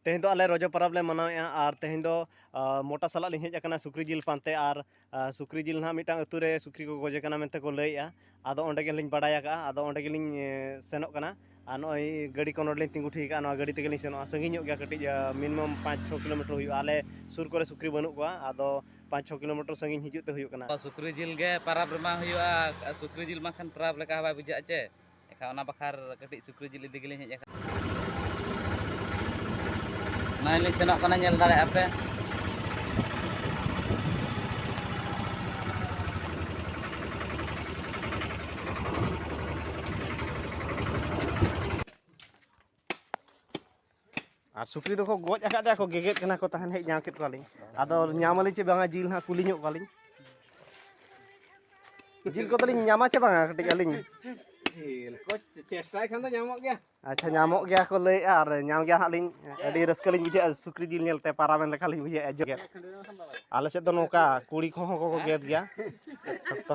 ᱛᱮᱦᱮᱧ ᱫᱚ ᱟᱞᱮ ᱨᱚᱡᱚ ᱯᱚᱨᱚᱵᱽ ᱞᱮ ᱢᱟᱱᱟᱣᱮᱜᱼᱟ ᱟᱨ ᱛᱮᱦᱮᱧ ᱫᱚ ᱢᱚᱴᱟ ᱥᱟᱞᱟᱜ ᱞᱤᱧ ᱦᱮᱡ ᱟᱠᱟᱱᱟ ᱥᱩᱠᱨᱤ ᱡᱤᱞ ᱯᱟᱱᱛᱮ ᱟᱨ ᱥᱩᱠᱨᱤ ᱡᱤᱞ ᱱᱟᱦᱟᱜ ᱢᱤᱫᱴᱟᱝ ᱟᱹᱛᱩ ᱨᱮ ᱥᱩᱠᱨᱤ ᱠᱚ ᱜᱚᱡᱮ ᱠᱟᱱᱟ ᱢᱮᱱᱛᱮ ᱠᱚ ᱞᱟᱹᱭᱮᱜᱼᱟ ᱟᱫᱚ ᱚᱸᱰᱮ ᱜᱮᱞᱤᱧ ᱵᱟᱰᱟᱭ ᱟᱠᱟᱜᱼᱟ ᱟᱫᱚ ᱚᱸᱰᱮ ᱜᱮᱞᱤᱧ ᱥᱮᱱᱚᱜ ᱠᱟᱱᱟ ᱟᱨ ᱱᱚᱜᱼᱚᱭ ᱜᱟᱹᱰᱤ ᱠᱚ ᱱᱚᱰᱮᱞᱤᱧ ᱛᱤᱸᱜᱩ ᱴᱷᱤᱠ ᱟᱠᱟᱜᱼᱟ ᱱᱚᱣᱟ ᱜᱟᱹᱰᱤ ᱛᱮᱜᱮᱞᱤᱧ ᱥᱮᱱᱚᱜᱼᱟ ᱥᱟᱺᱜᱤᱧ ᱧᱚᱜ ᱜᱮᱭᱟ ᱠᱟᱹᱴᱤᱡ ᱢᱤᱱᱤᱢᱟᱢ ᱯᱟᱸᱪ ᱪᱷᱚ ᱠᱤᱞᱳᱢᱤᱴᱟᱨ ᱦᱩᱭᱩᱜᱼᱟ ᱟᱞᱮ ᱥᱩᱨ ᱠᱚᱨᱮ ᱥᱩᱠᱨᱤ ᱵᱟᱹᱱᱩᱜ ᱠᱚᱣᱟ ᱟᱫᱚ ᱯᱟᱸᱪ ᱪᱷᱚ ᱠᱤᱞᱳᱢᱤᱴᱟᱨ ᱥᱟᱺᱜᱤᱧ ᱦᱤᱡᱩᱜ ᱛᱮ ᱦᱩᱭᱩᱜ ᱠᱟᱱᱟ ᱥᱩᱠᱨᱤ ᱡᱤᱞ ᱜᱮ ᱯᱟᱨᱟᱵᱽ ᱨᱮᱢᱟ ᱦᱩᱭᱩᱜᱼᱟ ᱥᱩᱠᱨᱤ ᱡᱤᱞ ᱢᱟ ᱠᱷᱟᱱ ᱯᱟᱨᱟᱵᱽ ᱞᱮᱠᱟ ᱦᱚᱸ ᱵᱟᱭ ᱵᱩᱡᱷᱟᱹᱜᱼᱟ ᱪᱮ ᱮᱱᱠᱷᱟᱱ ᱚᱱᱟ ᱵᱟᱠᱷᱟᱨ ᱠᱟᱹᱴᱤᱡ ᱥᱩᱠᱨᱤ ᱡᱤᱞ ᱤᱫᱤ ᱜᱮᱞᱤᱧ ᱦᱮᱡ ᱟᱠᱟᱱᱟ ᱱᱚᱜᱼᱚᱭ ᱞᱤᱧ ᱥᱮᱱᱚᱜ ᱠᱟᱱᱟ ᱧᱮᱞ ᱫᱟᱲᱮᱭᱟᱜᱼᱟ ᱯᱮ ᱟᱨ ᱥᱩᱠᱨᱤ ᱫᱚᱠᱚ ᱜᱚᱡ ᱟᱠᱟᱫᱮᱭᱟ ᱠᱚ ᱜᱮᱜᱮᱫ ᱠᱟᱱᱟ ᱠᱚ ᱛᱟᱦᱮᱱ ᱦᱮᱡ ᱧᱟᱢ ᱠᱮᱫ ᱠᱚᱣᱟᱞᱤᱧ ᱟᱫᱚ ᱧᱟᱢᱟᱞᱤᱧ ᱪᱮ ᱵᱟᱝᱟ ᱡᱤᱞ ᱦᱟᱸᱜ ᱠᱩᱞᱤ ᱧᱚᱜ ᱠᱚᱣᱟᱞᱤᱧ ᱡᱤᱞ ᱠᱚᱫᱚᱞᱤᱧ ᱧᱟᱢᱟ ᱪᱮ ᱵᱟᱝᱟ ᱠᱟᱹᱴᱤᱡ ᱟᱹᱞᱤᱧ ᱡᱤᱞ ᱠᱚ ᱪᱮᱥᱴᱟᱭ ᱠᱷᱟᱱ ᱫᱚ ᱧᱟᱢᱚᱜ ᱜᱮᱭᱟ ᱟᱪᱪᱷᱟ ᱧᱟᱢᱚᱜ ᱜᱮᱭᱟ ᱠᱚ ᱞᱟᱹᱭᱮᱫᱼᱟ ᱟᱨ ᱧᱟᱢ ᱜᱮᱭᱟ ᱦᱟᱸᱜ ᱞᱤᱧ ᱟᱹᱰᱤ ᱨᱟᱹᱥᱠᱟᱹ ᱞᱤᱧ ᱵᱩᱡᱷᱟᱹᱜᱼᱟ ᱥᱩᱠᱨᱤ ᱡᱤᱞ ᱧᱮᱞᱛᱮ ᱯᱟᱨᱟᱢᱮᱱ ᱞᱮᱠᱟ ᱞᱤᱧ ᱵᱩᱡᱷᱟᱹᱜᱼᱟ ᱡᱚᱜᱮᱫ ᱟᱞᱮ ᱥᱮᱫ ᱫᱚ ᱱᱚᱝᱠᱟ ᱠᱩᱲᱤ ᱠᱚᱦᱚᱸ ᱠᱚ ᱜᱮᱫ ᱜᱮᱭᱟ ᱥᱚᱠᱛᱚ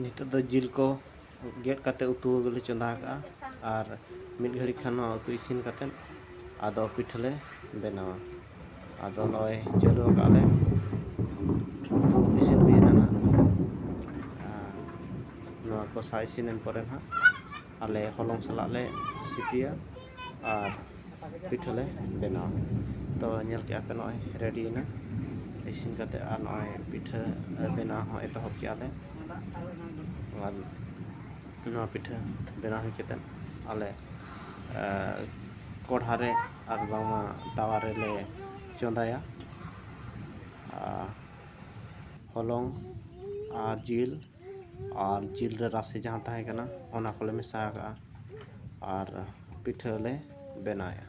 ᱱᱤᱛᱚᱜ ᱫᱚ ᱡᱤᱞ ᱠᱚ ᱜᱮᱫ ᱠᱟᱛᱮ ᱩᱛᱩ ᱞᱮ ᱪᱚᱸᱫᱟ ᱠᱟᱜᱼᱟ ᱟᱨ ᱢᱤᱫ ᱜᱷᱟᱹᱲᱤᱡ ᱠᱷᱟᱱ ᱱᱚᱣᱟ ᱩᱛᱩ ᱤᱥᱤᱱ ᱠᱟᱛᱮ ᱟᱫᱚ ᱯᱤᱴᱷᱟᱹ ᱞᱮ ᱵᱮᱱᱟᱣᱟ ᱟᱫᱚ ᱱᱚᱜᱼᱚᱭ ᱪᱟᱹᱞᱩ ᱟᱠᱟᱫ ᱞᱮ ᱩᱛᱩ ᱤᱥᱤᱱ ᱦᱩᱭᱮᱱᱟ ᱱᱟᱜ ᱱᱚᱣᱟ ᱠᱚᱥᱟ ᱤᱥᱤᱱᱮᱱ ᱯᱚᱨᱮ ᱱᱟᱜ ᱟᱞᱮ ᱦᱚᱞᱚᱝ ᱥᱟᱞᱟᱜ ᱞᱮ ᱥᱤᱯᱤᱭᱟ ᱟᱨ ᱯᱤᱴᱷᱟᱹ ᱞᱮ ᱵᱮᱱᱟᱣᱟ ᱛᱚ ᱧᱮᱞ ᱠᱮᱜᱼᱟ ᱯᱮ ᱱᱚᱜᱼᱚᱭ ᱨᱮᱰᱤᱭᱮᱱᱟ ᱤᱥᱤᱱ ᱠᱟᱛᱮᱫ ᱟᱨ ᱱᱚᱜᱼᱚᱭ ᱯᱤᱴᱷᱟᱹ ᱵᱮᱱᱟᱣ ᱦᱚᱸ ᱮᱛᱚᱦᱚᱵ ᱠᱮᱜᱼᱟ ᱞᱮ ᱟᱨ ᱱᱚᱣᱟ ᱯᱤᱴᱷᱟᱹ ᱵᱮᱱᱟᱣ ᱦᱩᱭ ᱠᱟᱛᱮᱫ ᱟᱞᱮ ᱠᱚᱲᱦᱟ ᱨᱮ ᱟᱨ ᱵᱟᱝᱢᱟ ᱛᱟᱣᱟ ᱨᱮᱞᱮ ᱪᱚᱸᱫᱟᱭᱟ ᱟᱨ ᱦᱚᱞᱚᱝ ᱟᱨ ᱡᱤᱞ ᱟᱨ ᱡᱤᱞ ᱨᱮ ᱨᱟᱥᱮ ᱡᱟᱦᱟᱸ ᱛᱟᱦᱮᱸ ᱠᱟᱱᱟ ᱚᱱᱟ ᱠᱚᱞᱮ ᱢᱮᱥᱟ ᱟᱠᱟᱜᱼᱟ ᱟᱨ ᱯᱤᱴᱷᱟᱹ ᱞᱮ ᱵᱮᱱᱟᱣᱮᱜᱼᱟ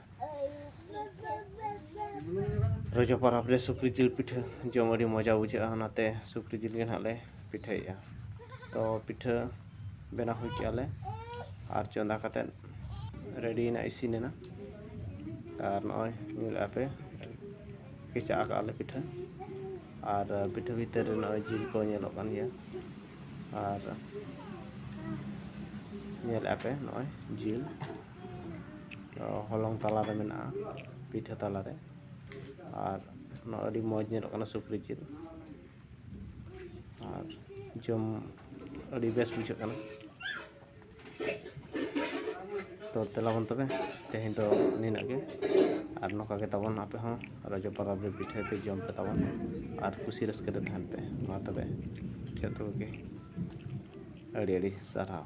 ᱨᱚᱡᱚ ᱯᱚᱨᱚᱵᱽ ᱨᱮ ᱥᱩᱠᱨᱤ ᱡᱤᱞ ᱯᱤᱴᱷᱟᱹ ᱡᱚᱢ ᱟᱹᱰᱤ ᱢᱚᱡᱟ ᱵᱩᱡᱷᱟᱹᱜᱼᱟ ᱚᱱᱟᱛᱮ ᱥᱩᱠᱨᱤ ᱡᱤᱞ ᱜᱮ ᱦᱟᱸᱜ ᱞᱮ ᱯᱤᱴᱷᱟᱹᱭᱮᱜᱼᱟ ᱛᱚ ᱯᱤᱴᱷᱟᱹ ᱵᱮᱱᱟᱣ ᱦᱩᱭ ᱠᱮᱜᱼᱟ ᱞᱮ ᱟᱨ ᱪᱚᱸᱫᱟ ᱠᱟᱛᱮ ᱨᱮᱰᱤᱭᱮᱱᱟ ᱤᱥᱤᱱ ᱮᱱᱟ ᱟᱨ ᱱᱚᱜᱼᱚᱭ ᱧᱮᱞᱮᱜᱼᱟ ᱯᱮ ᱠᱮᱪᱟᱜ ᱠᱟᱜᱼᱟ ᱞᱮ ᱯᱤᱴᱷᱟᱹ ᱟᱨ ᱯᱤᱴᱷᱟᱹ ᱵᱷᱤᱛᱟᱹᱨ ᱨᱮ ᱱᱚᱜᱼᱚᱭ ᱡᱤᱞ ᱠᱚ ᱧᱮᱞᱚᱜ ᱠᱟᱱ ᱜᱮᱭᱟ ᱟᱨ ᱧᱮᱞᱮᱫᱼᱟ ᱯᱮ ᱱᱚᱜᱼᱚᱭ ᱡᱤᱞ ᱦᱚᱞᱚᱝ ᱛᱟᱞᱟ ᱨᱮ ᱢᱮᱱᱟᱜᱼᱟ ᱯᱤᱴᱷᱟᱹ ᱛᱟᱞᱟ ᱨᱮ ᱟᱨ ᱱᱚᱣᱟ ᱟᱹᱰᱤ ᱢᱚᱡᱽ ᱧᱮᱞᱚᱜ ᱠᱟᱱᱟ ᱥᱩᱠᱨᱤ ᱡᱤᱞ ᱟᱨ ᱡᱚᱢ ᱟᱹᱰᱤ ᱵᱮᱥ ᱵᱩᱡᱷᱟᱹᱜ ᱠᱟᱱᱟ ᱛᱚ ᱛᱮᱞᱟᱵᱚᱱ ᱛᱚᱵᱮ ᱛᱮᱦᱮᱧ ᱫᱚ ᱱᱤᱱᱟᱹᱜ ᱜᱮ ᱟᱨ ᱱᱚᱝᱠᱟ ᱜᱮ ᱛᱟᱵᱚᱱ ᱟᱯᱮ ᱦᱚᱸ ᱨᱚᱡᱚ ᱯᱚᱨᱚᱵᱽ ᱨᱮ ᱯᱤᱴᱷᱟᱹ ᱯᱮ ᱡᱚᱢ ᱯᱮ ᱛᱟᱵᱚᱱ ᱟᱨ ᱠᱩᱥᱤ ᱨᱟᱹᱥᱠᱟᱹ ᱨᱮ ᱛᱟᱦᱮᱱ ᱯᱮ ᱢᱟ ᱛᱚᱵᱮ ᱡᱚᱛᱚ ᱠᱚᱜᱮ ᱟᱹᱰᱤ ᱟᱹᱰᱤ ᱥᱟᱨᱦᱟᱣ